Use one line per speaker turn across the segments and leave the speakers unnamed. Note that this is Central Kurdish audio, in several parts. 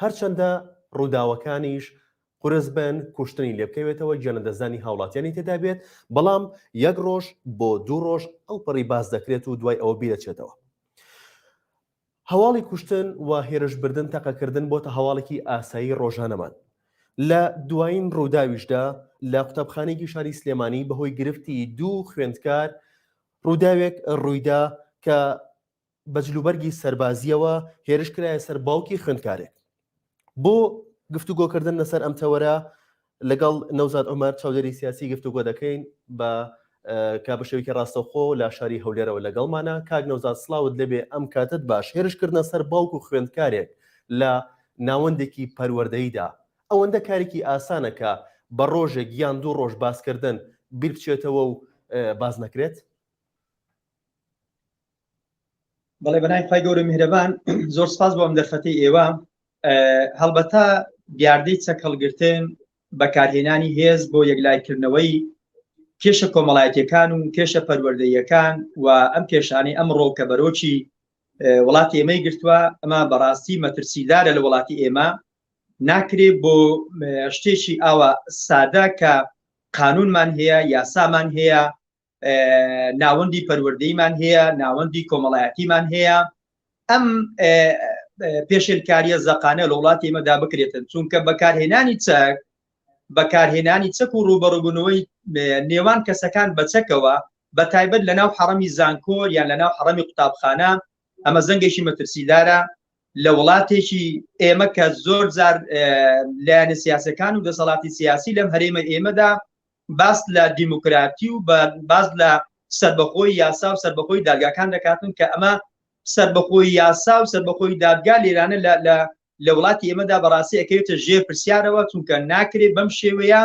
هەرچەندە ڕووداوەکانیش قورس بن، کوشتنی لێبکەوێتەوە، گیان لەدەستدانی هاوڵاتیانی تێدا بێت، بەڵام یەک ڕۆژ بۆ دوو ڕۆژ ئەوپەڕی باس دەکرێت و دوای ئەوە بیدەچێتەوە. هەواڵی کوشتن و هێرشبردن تەقەکردن بۆتە هەواڵێکی ئاسایی ڕۆژانەمان. لە دوایین ڕووداویشدا لە قوتابخانەیەکی شاری سلێمانی بەهۆی گرفتی دوو خوێندکار ڕووداوێک ڕوویدا کە بە جلوبەرگی سەربازییەوە هێرش کرایە سەر باوکی خوێندکارێک بۆ گفتوگۆکردن لەسەر ئەم تەوەرە لەگەڵ نەوزاد عمر چاودێری سیاسی گفتوگۆ دەکەین بە کا بە شێوکی ڕاستەخۆ لە شاری هەولێرەوە لەگەڵمانە کاک نەوزاد سلااوت لەبێ ئەم کاتت باش هێرشکردە سەر باوک و خوێندکارێک لە ناوەندێکی پەروەردەیدا ئەوەندە کارێکی ئاسانە کە بە ڕۆژێک یان دوو ڕۆژ باسکردن بیر بچێتەوە و باز نەکرێت
بەڵێ بەنای خی گەورە میهرەبان زۆر سپاس بۆم دەرفەتی ئێوە هەڵبەتە دیاردەی چەکەڵگرتن بەکارهێنانی هێز بۆ یەکلایکردنەوەی کێشە کۆمەڵایەتەکان و کێشە پەروەردەیەکان و ئەم کێشانەی ئەم ڕۆکە بەرۆکی وڵاتی ئێمەی گرتووە ئەمە بەڕاستی مەترسیدارە لە وڵاتی ئێمە ناکرێت بۆ شتێکی ئاوا سادە کە قانونمان هەیە یاسامان هەیە ناوەندی پەروەردەیمان هەیە ناوەندی کۆمەڵایەتیمان هەیە ئەم پێشێلکاریە زەقانە لە وڵاتی ئمەدا بکرێتن چونکە بەکارهێنانی چەک بەکارهێنانی چەک و ڕوبەڕبوونەوەی نێوان کەسەکان بە چەکەوە بە تایبەت لە ناو حەڕەمی زانکۆر یان لە ناو حەڕەمی قوتابخانە ئەمە زەنگێکی مەترسیدارە لە وڵاتێکی ئێمە کە زۆر زار لایەنە سیاسەکان و دەسەڵاتی سیاسی لەم هەرێمە ئێمەدا باس لە دیموکراتی و باس لە سەربەخۆی یاسا و سەربەخۆی دادگاکان دەکاتن کە ئەمە سەربەخۆی یاسا و سەربەخۆی دادگا لێرانە لە لە وڵاتی ئێمەدا بەڕاستی ئەکەوێتە ژێر پرسیارەوە چونکە ناکرێت بەم شێوەیە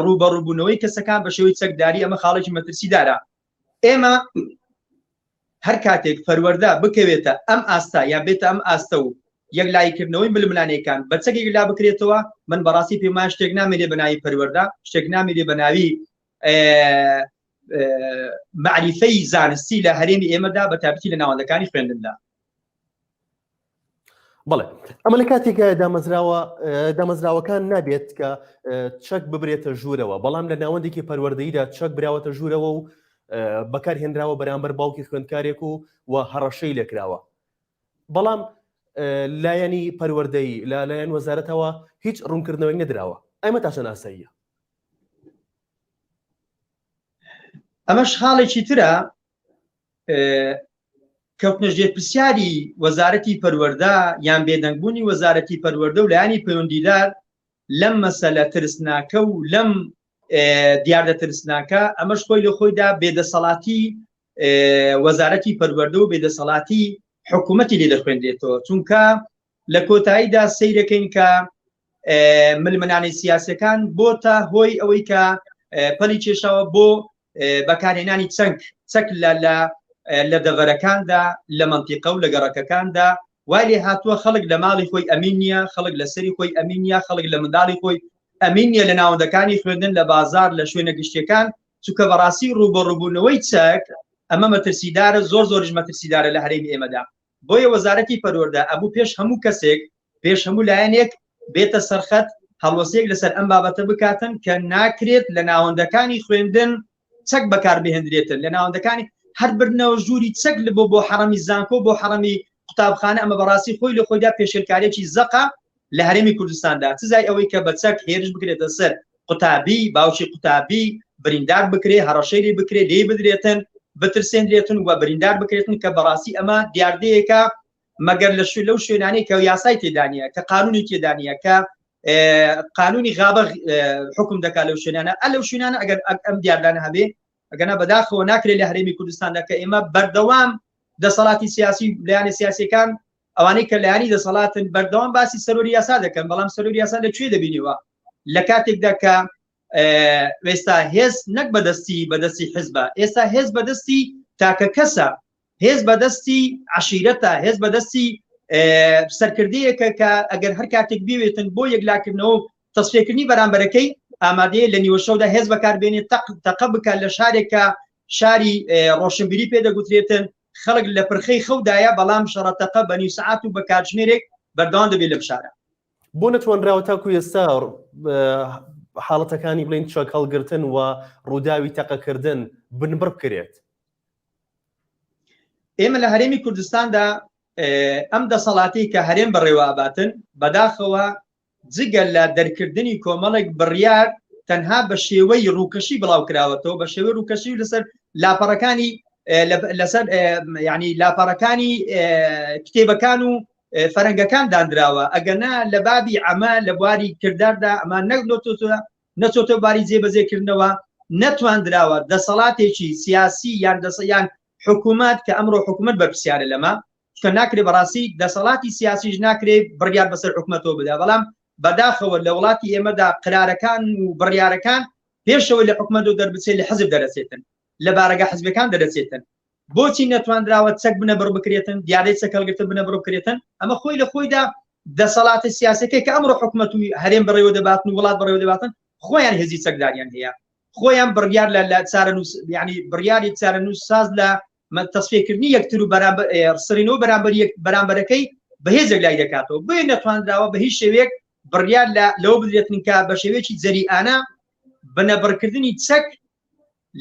ڕوبەڕوبوونەوەی کەسەکان بە شێوەی چەکداری ئەمە خاڵێکی مەترسی دارە ئێمە هەر کاتێک پەروەردە بکەوێتە ئەم ئاستا یا بێتە ئەم ئاستە و یەکلاییکردنەوەی ململانێکان بە چەکێک لا بکرێتەوە من بەڕاستی پێما شتێک نامێنێ بە ناوی پەروەەردە شتێک نامێنێ بە ناوی معریفەی زانستی لە هەرێمی ئێمەدا بە تابتی لە ناوەندەکانی خوێندندا
بڵێ ئەمە لە کاتێکایە دامەزراوە دامەزراوەکان نابێت کە چەک ببرێتە ژوورەوە بەڵام لە ناوەندێکی پەروەردەیدا چەک براوەتە ژوورەوە و بەکار هێنراوە بەرامبەر باوکی خوێندکارێک و و هەڕەشەی لێکراوە بەڵام لایەنی پەروەردەی لا لایەن وەزارەتەوە هیچ ڕوونکردنەوەی نەدراوە ئەمە تاشە ناساییە
ئەمەش خاڵێکی ترە کەوتنەژێر پرسیاری وەزارەتی پەروەەردە یان بێدەنگبوونی وەزارەتی پەروەەردە و لایانی پەیوەندیدار لەم مەسەلە ترسناکە و لەم دیاردە ترسناکە ئەمەش خۆی لە خۆیدا بێدەسەڵاتی وەزارەتی پەروەەردە و بێدەسەڵاتی حکوومەتی لێ دەخوێنرێتەوە چونکە لە کۆتاییدا سیرەکەین کە ملمنانی سیاسەکان بۆ تا هۆی ئەوەی کە پەلی کێشاوە بۆ بەکارهێنانی چەک چەک لە لە لە دەڤەرەکاندا لە منتیقە و لە گەڕەکەکاندا وای لێ هاتووە خەڵک لە ماڵی خۆی ئەمین نییە خەڵک لە سەری خۆی ئەمین نیە خەڵک لە منداڵی خۆی ئەمین نیە لە ناوەندەکانی خوێندن لە بازار لە شوێنە گشتیەکان چونکە بەڕاستی ڕوبەڕوبوونەوەی چەک ئەمە مەترسیدارە زۆر زۆرش مەترسیدارە لە هەرێمی ئێمەدا بۆیە وەزارەتی پەروەردە ئەبوو پێش هەموو کەسێک، پێش هەموو لایەنێک بێتە سەرخەت، هەڵوەستەیەک لەسەر ئەم بابەتە بکاتن کە ناکرێت لە ناوەندەکانی خوێندن چەک بەکاربهێندرێتن، لە ناوەندەکانی هەر بردنەوە ژووری چەک بۆ بۆ حەڕەمی زانکۆ، بۆ حەڕەمی قوتابخانە، ئەمە بەڕاستی خۆی لە خۆیدا پێشێلکاریەکی زەقە، لە هەرێمی کوردستاندا سزای ئەوەی کە بە چەک هێرش بکرێتە سەر قوتابی باوکی قوتابی بریندار بکرێ هەڕەشەی لێ بکرێ لێی بدرێتن بترسێنرێتن و بریندار بکرێتن کە بەڕاستی ئەمە دیاردەیەکە مەگەر لە شوێ لەو شوێنانەی کە یاسای تێدانە کە قانونی تێدانە کە قانونی غابە حکم دەکات لەو شوێنانە ئە لەو شوێنانە ئەگەر ئەم دیاردانە هەبێ ئەگەنا بەداخەوە ناکرێت لە هەرێمی کوردستاندا کە ئێمە بەردەوام دەسەڵاتی سیاسی لایەنە سیاسەکان ئەوانەی کە لایانی دەسەڵاتن بەردەوام باسی سەرۆری یاسا دەکەن بەڵام سەرۆری یاسا لە کوێ دەبینیوە لە کاتێکدا کە ئێستا هێز نەک بەدەستی بەدەستی حزبە ئێستا هێز بەدەستی تاکە کەسە هێز بەدەستی عشیرەتە هێز بەدەستی سەرکردەیەکە کە ئەگەر هەر کاتێک بوێتن بۆ یەکلاکردنەوە تەسفێکردنی بەرامبەرەکەی ئامادەیە لە نیوەشەودا هێز بەکاربێنێت تەق تەقە بکات لە شارێکە شاری ڕۆشنبیری پێ دەگوترێتن خەڵک لە پرخەی خەودایە، بەڵام شەڕە تەقە بە نیو سەعات و بە کاتژمێرێک بەردەوام دەبێت لەم شارە. بۆ نەتوانراوە
تاکو ئێستا حاڵەتەکانی بڵێن چەک هەڵگرتن و ڕووداوی تەقەکردن بنبڕ بکرێت؟
ئێمە لە هەرێمی کوردستاندا ئەم دەسەڵاتی کە هەرێم بەڕێوە ئەباتن بەداخەوە جگە لە دەرکردنی کۆمەڵێک بڕیار تەنها بە شێوەی ڕووکەشی بڵاو کراوەتەوە بە شێوەی ڕووکەشی لەسەر لاپەڕەکانی لەسەر ینی لاپەڕەکانی کتێبەکان و فەرەنگەکان دانراوە ئەگەنا لە بابی ئەمە لە بواری کرداردا ئەمان نەک لۆتۆتوە نەچۆتە باری جێبەجێکردنەوە نەتواندراوە دەسەڵاتێکی سیاسی یان دەسەیان حکوومەت کە ئەمڕۆ حکوومەت بەرپسیارە لەمە چکە ناکرێ بەڕاستی دەسەڵاتی سیاسیش ناکرێت بڕیار بەسەر حکومەتەوە بدا بەڵام بەداخەوە لە وڵاتی ئێمەدا قرارەکان و بڕیارەکان پێشەوەی لە حکومەت و دەربچێت لە حزب دەرەچێتن لە بارەگە حزبەکان دەرەچێتن بۆچی نەتواندراوە چەک بنە بڕ بکرێتن دیارەی چەکەڵگرتە بنە بڕ بکرێتن ئەمە خۆی لە خۆیدا دەسەڵاتە سیاسەکەی کە ئەمڕۆ حکومەت و هەرێم بڕێوە دەباتن و وڵات بڕێوە دەباتن خۆیان هێزی چەکداریان هەیە خۆیان بڕیار لە لە چارە نووس ینی بڕیاری چارە نووس ساز لە تەسفیەکردنی یەکتر و سڕینەوە بەرامبەر بەرامبەرەکەی بەهێزێک لای دەکاتەوە بۆی نەتواندراوە بە هیچ شێوەیەک بڕیار لەوە بدرێتن کە بە شێوەیەکی جەریانە بنەبڕکردنی چەک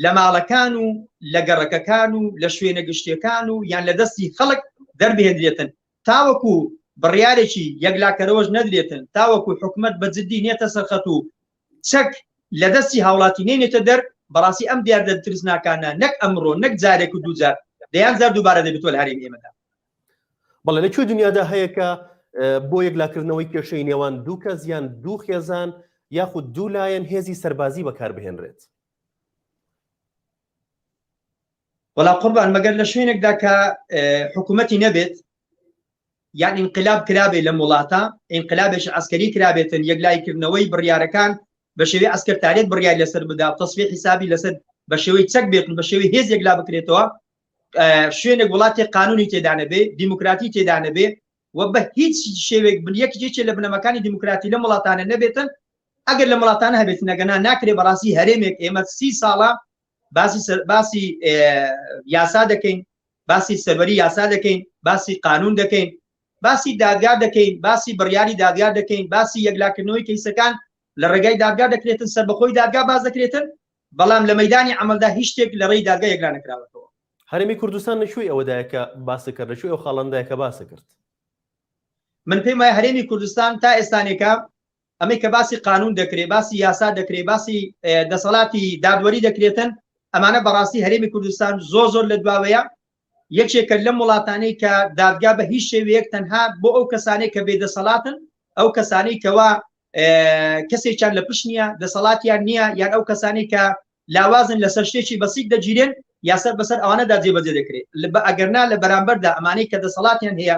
لە ماڵەکان و لە گەڕەکەکان و لە شوێنە گشتیەکان و یان لە دەستی خەڵک دەربهێنرێتن تاوەکو بڕیارێکی یەکلاکەرەوەش نەدرێتن تاوەکو حکومت بە جددی نێتە سەرخەت و چەک لە دەستی هاوڵاتی نەینێتە دەر، بەڕاستی ئەم دیاردە ترسناکانە نەک ئەمڕۆ نەک جارێک و دووجار دەیان جار دووبارە دەبێتوە لە هەرێمی ئێمەدا. بەڵێ
لە کوێ دنیادا هەیە کە بۆ یەکلاکردنەوەی کێشەی نێوان دوو کەس یان دوو خێزان یاخود دوو لایەن هێزی سەربازی بەکاربهێنرێت؟
وەڵا قوربان مەگەر لە شوێنێکدا کە حکوومەتی نەبێت یان ئینقلاب کرابێ لەم وڵاتە ئینقلابێکی عەسکەری کرابێتن یەکلایی کردنەوەی بڕیارەکان بە شێوەی عەسکەرتارێت بڕیار لەسەر بدا و تەسفیە حیسابی لەسەر بە شێوەی چەک بێت و بە شێوەی هێز یەکلا بکرێتەوە شوێنێک وڵاتی قانونی تێدانەبێ دیموکراتی تێدانەبێ و بە هیچ شێوێک بن یەکێکی لە بنەمەکانی دیموکراتی لە وڵاتانە نەبێتن ئەگەر لە وڵاتانە هەبێت نەگەنا ناکرێ بەڕاستی هەرێمێک ئێمە سی ساڵە باسی باسی یاسا دەکەین باسی سەروەری یاسا دەکەین باسی قانون دەکەین باسی دادگا دەکەین باسی بڕیاری دادگا دەکەین باسی یەکلاکردنەوەی کەیسەکان لە ڕێگای دادگا دەکرێتن سربەخۆی دادگا باز دەکرێتن بەڵام لە مەدانی ئەمەلدا هیچ شتێک لە ڕێی دادگا یەکلا نکراوەتەوە هەرمی کوردستان
لەکوێی ئەوەدایە کە باسی کرد لەکوێ ئەو خاڵندایە کە باسی کرد
من پێم وایە هەرێمی کوردستان تا ئێستانێکە ئەمەی کە باسی قانون دەکرێ باسی یاسا دەکرێ باسی دەسەڵاتی دادوەری دەکرێتن ئەمانە بەڕاستی هەرێمی کوردستان زۆر زۆر لە دواوەیە یەکێکە لەم وڵاتانەی کە دادگا بە هیچ شێوەیەک تەنها بۆ ئەو کەسانێک کە بێدەسەڵاتن ئەو کەسانەی کەوا کەسێکیان لە پشت نییە دەسەڵاتیان نییە یان ئەو کەسانی کە لاوازن لەسەر شتێکی بەسیک دەگیرێن یاسەر بەسەر ئەوانەدا جێبەجێ دەکرێت لە بە ئەگەرنا لە بەرامبەردا ئەمانەی کە دەسەڵاتیان هەیە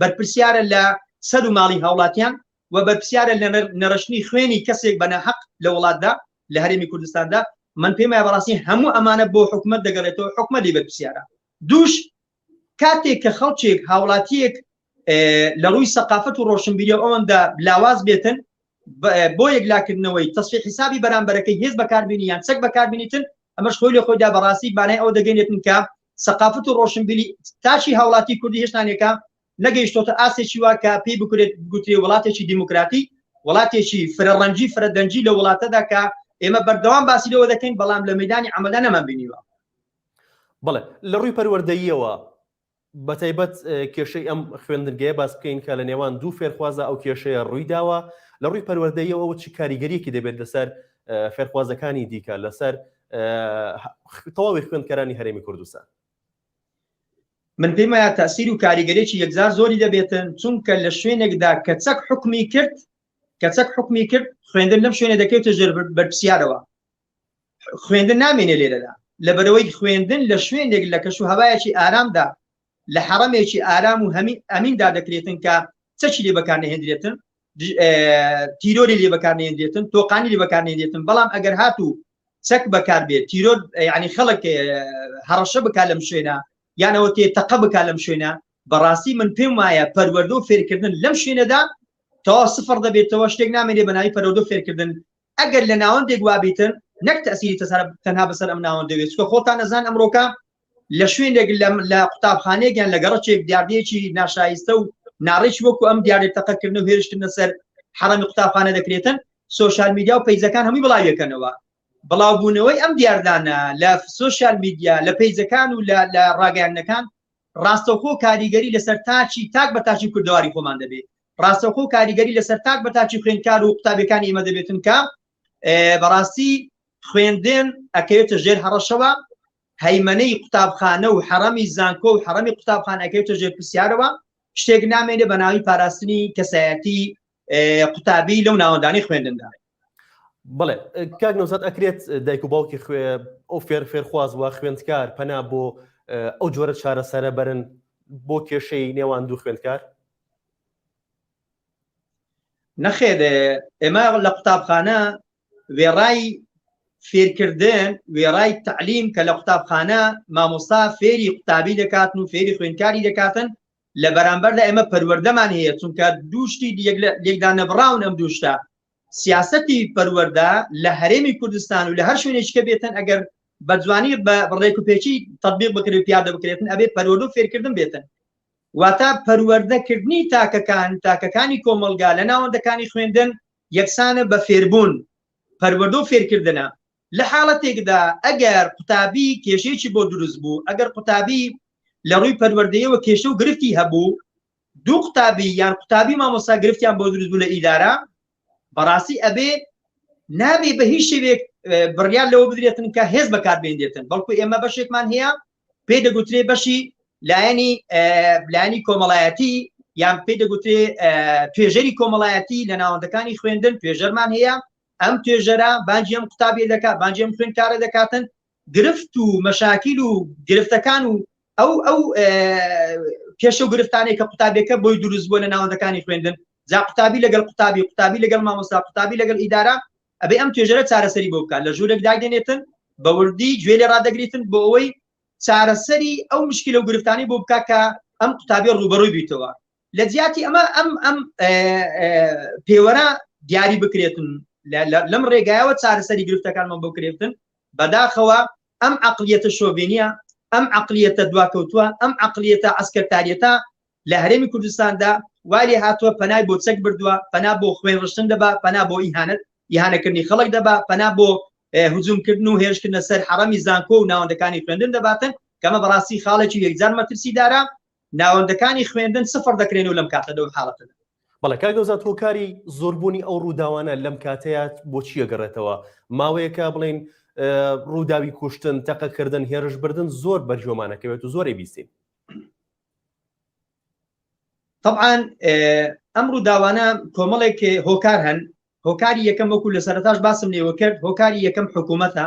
بەرپرسیارە لە سەر و ماڵی هاوڵاتیان و بەرپسیارە لە نەرشتنی خوێنی کەسێک بە ناحق لە وڵاتدا لە هەرێمی کوردستاندا من پێم وایە بەڕاستی هەموو ئەمانە بۆ حکومت دەگەڕێتەوە حکومە لێ بەرپسیارە دووش کاتێک کە خەڵکێک هاوڵاتیەک لە ڕووی سەقافەت و ڕۆشنبیری ئەوەندا لاواز بێتن بۆ یەکلاکردنەوەی تەسفیە حیسابی بەرامبەرەکەی هێز بەکاربینی یان چەک بەکاربینیتن ئەمەش خۆی لە خۆیدا بەڕاستی بانای ئەوە دەگەنێتن کە سەقافت و ڕۆشنبیلی تاکی هاوڵاتی کوردی هێشتانێکە نەگەیشتۆتە ئاستێکی وا کە پێی بکرێت گوترێ وڵاتێکی دیموکراتی وڵاتێکی فرەڕەنجی فرەدەنجی لە وڵاتەدا کە ئێمە بەردەوام باسی لەوە دەکەین بەڵام لە مەدانی عملدا نەمان بینیوە
بڵێ لە ڕووی پەروەردەییەوە بەتایبەت کێشەی ئەم خوێندنگەیە باس بکەین کە لە نێوان دوو فێرخوازە ئەو کێشەیە ڕووی داوە لە ڕووی پەروەردەیەوە چ کاریگەریەکی دەبێت لەسەر فێرخوازەکانی دیکە لەسەر تەواوی خوێندکەرانی هەرێمی کوردستان
من پێم وایە تاسیر و کاریگەرێکی یەکجار زۆری دەبێتن چونکە لە شوێنێکدا کە چەک حکمی کرد کە چەک حکمی کرد خوێندن لەم شوێنە دەکەوتە ژێر بەرپسیارەوە خوێندن نامێنێ لێرەدا لەبەرەوەی خوێندن لە شوێنێک لە کەش و هەوایەکی ئارامدا لە حەڕەمێکی ئارام و هەمی ئەمیندا دەکرێتن کە چەچی لێ بەکارنەهێندرێتن تیرۆری لێ بەکارنێندێتن تۆقانی لێ بەکارنێندێتن بەڵام ئەگەر هاتوو چەک بەکار بێت تیرۆر ینی خەڵک هەڕەشە بک لەم شوێنە یانەوە تێ تەقە بک لەم شوێنە بەڕاستی من پێم وایە پەروەەردە و فێرکردن لەم شوێنەدا تەوا سفر دەبێتەوە شتێک نامێنێ بەناوی پەرۆدە فێرکردن ئەگەر لە ناوەندێک وابیتن نەک تەسیری تەسەر تەنها بەسەر ئەم ناوەندەوێت چکە خۆتان نەزان ئەمڕۆکە لە شوێنێک لە قوتابخانەیەکیان لە گەڕچێک دیاردێکی ناشایستە و ناڕێکی وەکو ئەم دیارێت تەقەکردن و هێرشکردنە سەر حەڕەمی قوتابخانە دەکرێتن سوۆشال میدیا و پیزەکان هەمووی بڵاویەکەنەوە بڵاوبوونەوەی ئەم دیاردانە لە سوۆشال میدیا لە پیزەکان و لە ڕاگەیانەکان ڕاستەوخۆ کاریگەری لەسەر تاکی تاک بە تاکی کوردەواری خۆمان دەبێ ڕاستەوخۆ کاریگەری لەسەر تاک بە تاکی خوێندکار و قوتابیەکانی ئێمە دەبێت چونکە بەڕاستی خوێندێن ئەکەوێتە ژێر هەڕەشەوە هەیمەنەی قوتابخانە و حەڕەمی زانکۆ و حەڕەمی قوتابخانەکەوێتە ژێر پرسیارەوە شتێک نامێنێ بە ناوی پاراستنی کەسایەتی قوتابی لەو ناوەندانی خوێندندا بڵێ
کاک نەوزات ئەکرێت دایک و باوکی خوێ ئەو فێر فێرخواز وە خوێندکار پەنا بۆ ئەو جۆرە چارەسەرە بەرن بۆ کێشەی نێوان دوو خوێندکار
نەخێر ئێمە لە قوتابخانە وێڕای فێرکردن وێڕای تعلیم کە لە قوتابخانە مامۆستا فێری قوتابی دەکاتن و فێری خوێندکاری دەکاتن لە بەرامبەردا ئێمە پەروەردەمان هەیە چونکە دوو شتی لێکدا نەبڕاون ئەم دوو شتە سیاسەتی پەروەەردە لە هەرێمی کوردستان و لە هەر شوێنێککە بێتن ئەگەر بە جوانی بە ڕێک و پێچی تطبیق بکرێت پیادە بکرێتن ئەبێ پەروەەر و فێرکردن بێتن واتە پەروەردەکردنی تاکەکان تاکەکانی کۆمەلگا لە ناوەندەکانی خوێندن یەکسانە بە فێربوون پەروەەردە و فێرکردنە لە حاڵەتێکدا ئەگەر قوتابی کێشەیەکی بۆ دروست بوو، ئەگەر قوتابی لە ڕووی پەروەردەیەوە کێشە و گرفتی هەبوو، دوو قوتابی یان قوتابی مامۆستا گرفتیان بۆ دروست بوو لە ئیدارە، بەڕاستی ئەبێ نابێ بە هیچ شێوێک بڕیار لەوە بدرێتن کە هێز بەکار بێنرێتن، بەڵکو ئێمە بەشێکمان هەیە پێی دەگوترێ بەشی لایەنی لایەنی کۆمەڵایەتی یان پێی دەگوترێ توێژەری کۆمەڵایەتی لە ناوەندەکانی خوێندن توێژەرمان هەیە ئەم توێژەرە بانگی ئەم قوتابیە دەکات، بانگی ئەم خوێندکارە دەکاتن، گرفت و مەشاکیل و گرفتەکان و ئەو ئەو کێشە و گرفتانەی کە قوتابیەکە بۆی دروست بووە لە ناوەندەکانی خوێندن جا قوتابی لەگەڵ قوتابی قوتابی لەگەڵ مامۆستا قوتابی لەگەڵ ئیدارە ئەبێ ئەم توێژەرە چارەسەری بۆ بکات لە ژوورێک داگەنێتن بە وردی گوێ لێ ڕدەگریتن بۆ ئەوەی چارەسەری ئەو مشکل و گرفتانی بۆ بکات کە ئەم قوتابی ڕوبەڕووی بیتەوە لە جیاتی ئەمە ئەم ئەم پێوەرە دیاری بکرێتن لەم ڕێگایەوە چارەسەری گرفتەکانمان بۆ کرێتن بەداخەوە ئەم عقلیەتە شۆڤێنە ئەم عقلیەتە دواکەوتووە ئەم عقلیەتە ئەسکەتاریەتە لە هەرێمی کوردستاندا والی هاتووە پەنای بۆ چەک بردووە پەنا بۆ خوێن ڕشتن دەبا پەنا بۆ ئیهانت یهانەکردنی خەڵک دەبا پەنا بۆ هجوومکردن و هێشکردنە سەر حەڕەمی زانکۆ و ناوەندەکانی خوێندن دەباتن کەمە بەڕاستی خاڵێکی یەکجار مەترسی دارە ناوەندەکانی خوێندن سفر دەکرێن و لەم کاتە لەو حاڵەتەدا. بەڵێ کاک نەوزاد
هۆکاری زۆربوونی ئەو ڕووداوانە لەم کاتەیە بۆ چییە گەڕێتەوە ماوەیەکە بڵین ڕووداوی کوشتن تەقەکردن هێرش بردن زۆر بەرجۆمانەکەوێت و زۆری بیستین
طبعاان ئەم ڕووداوانە کۆمەڵێک هۆکار هەن هۆکاری یەکەم وەکو لە سەرتاش باسم لێوە کرد هۆکاری یەکەم حکوومەتە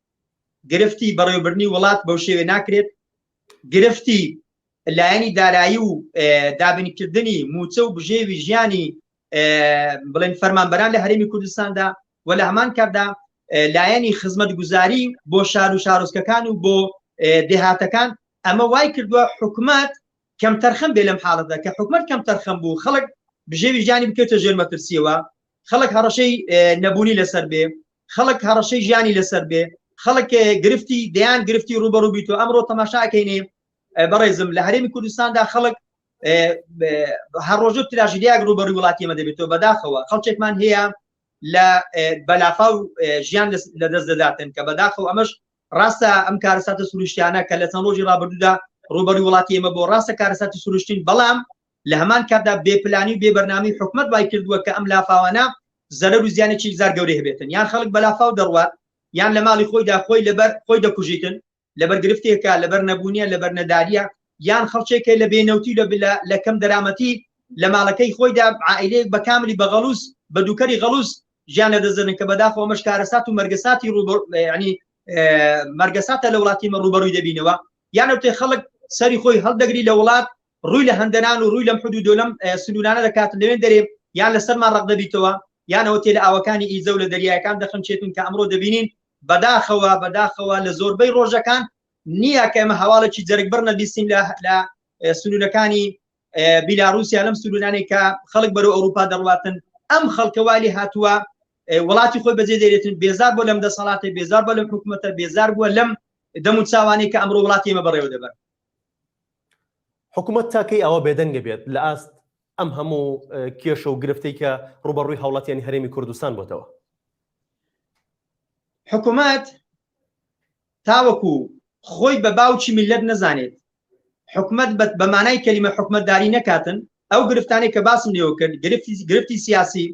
گرفتی بەڕێوبردنی وڵات بەو شێوێ ناکرێت گرفتی لایەنی دارایی و دابینکردنی موچە و بژێوی ژیانی بڵێن فەرمانبەران لە هەرمی کوردستاندا و لە هەمان کاتدا لایەنی خزمەت گوزاری بۆ شار و شارۆچکەکان و بۆ دێهاتەکان ئەمە وای کردووە حکومت کەم تەرخەم بێ لەم حاڵەتە کە حکومت کەم تەرخەم بوو خەڵک بژێوی ژیانی بکەێتە ژێر مەترسیەوە خەڵک هەڕەشەی نەبوونی لەسەر بێ خەڵک هەڕەشەی ژیانی لەسەر بێ خەڵک گرفتی دەیان گرفتی ڕوبەڕوو بیت و ئەمڕۆ تەماشا ئەکەینێ بەڕێزم لە هەرێمی کوردستاندا خەڵک هەڕۆژە تراژیدیاک ڕوبەڕوی وڵاتی ئەمە دەبێتەوە بەداخەوە خەڵچێکمان هەیە لە بەلافا و ژیان لە دەست دەداتن کە بەداخەوە ئەمەش ڕاستە ئەم کارەساتە سروشتیانە کە لە چەند ڕۆژی ڕابردوودا ڕوبەری وڵاتی ئێمە بۆ ڕاستە کارەساتی سروشتین بەڵام لە هەمان کاتدا بێ پلانی و بێ بەرنامەی حکومەت وای کردووە کە ئەم لافاوانە زەرەر و زیانێکی یکجار گەورەی هەبێتن یان خەڵک بە لافاو دەڕوات یان لە ماڵی خۆیدا خۆی لەبەر خۆی دەکوژیتن لەبەر گرفتێکە لەبەر نەبوونیە لەبەر نەداریە یان خەڵکێکە لە بێنەوتی لە بلا لە کەم دەرامەتی لە ماڵەکەی خۆیدا عائلەیەک بە کاملی بە غەڵوز بە دووکەری غەڵوز ژیان لە دەزنن کە بەداخۆ ئەمەش کارەسات و مەرگەساتی ڕوبەر ینی مەرگەساتە لە وڵاتی مە ڕوبەڕووی دەبینەوە یانەوتێ خەڵک سەری خۆی هەڵدەگری لە وڵات ڕووی لە هەندەنان و ڕووی لەم حدود و لەم سنوورانە دەکات، لەوێن دەرێ یان لەسەرمان ڕەق دەبیتەوە، یان ئەوە تێ لە ئاوەکانی ئیزە و لە دەریایەکان دەخنچێتین کە ئەمڕۆ دەبینین، بەداخەوە بەداخەوە لە زۆربەی ڕۆژەکان نییە کە ئێمە هەواڵێکی جەرگبڕ نەبیستین لە لە سنوورەکانی بیلاروسیا لەم سنوورانەی کە خەڵک بەرەو ئەوروپا دەڕواتن ئەم خەڵکە والی هاتووە وڵاتی خۆی بەجێ دەێتن بێزار بۆ لەم دەسەڵاتی بێزار بە لەم حکوومەتە بێزار بووە لەم دەم و چاوانەی کە ئەمڕۆ وڵاتی ئمە بەڕێوە دەبەر حکومەت
تا کەی ئاوا بێدەنگ دەبێت لە ئاست ئەم هەموو کێشە و گرفتەی کە ڕووبەڕووی هاوڵاتیانی هەرێمی کوردستان بۆتەوە؟
حکومەت تاوەکو خۆی بە باوکی میللەت نەزانێت حکومەت بە مانای کەلیمە حکومەتداری نەکاتن ئەو گرفتانەی کە باسم لێوە کرد گرفتی گرفتی سیاسی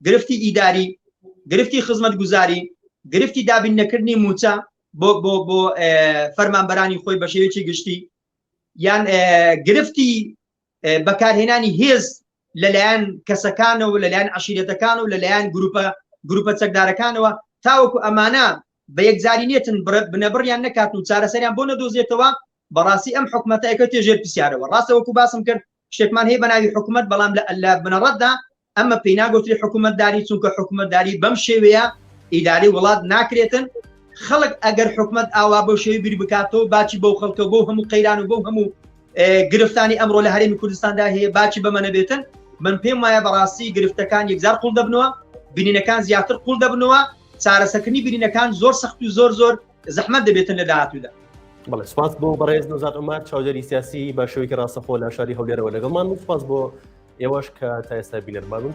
گرفتی ئیداری، گرفتی خزمەتگوزاری، گرفتی دابین نەکردنی مووچە بۆ بۆ بۆ فەرمانبەرانی خۆی بە شێوەیەکی گشتی یان گرفتی بەکارهێنانی هێز لەلایەن کەسەکانەوە لەلایەن عشیرەتەکان و لەلایەن گروپە گروپە چەکدارەکانەوە تاوەکو ئەمانە بە یەکجاری نێتن بنەبڕیان نەکات و چارەسەریان بۆ نەدۆزێتەوە بەڕاستی ئەم حکومەتەکە تێژێر پرسیارەوە ڕاستەوەکو باسم کرد شتێکمان هەیە بەناوی حکومەت بەڵام لە لە بنەڕەتدا ئەمە پێی ناگوتری حکومەتداری چونکە حکومەتداری بەم شێوەیە ئیداری وڵات ناکرێتن خەڵک ئەگەر حکومت ئاوا بۆ شێوی بیر بکاتەوە باچی بەو خەڵکە بۆ هەموو قەیران و بۆ هەموو گرفتانی ئەمڕۆ لە هەرێمی کوردستاندا هەیە باچی بەمە نەبێتن من پێم وایە بەڕاستی گرفتەکان یەکزار قوڵ دەبنەوە بینینەکان زیاتر قوڵ دەبنەوە چارەسەکردنی بینینەکان زۆر سەخت و زۆر زۆر زەحمەت دەبێتن لە داهاتوودا. بڵێ سپاس بۆ
بەڕێز نەزات عمار چاودێری سیاسی بە شوێکی ڕاستەخۆ لە شاری هەولێرەوە لەگەڵمان و سپاس بۆ ئێوەش کە تا ئێستا بینەرمان بوون.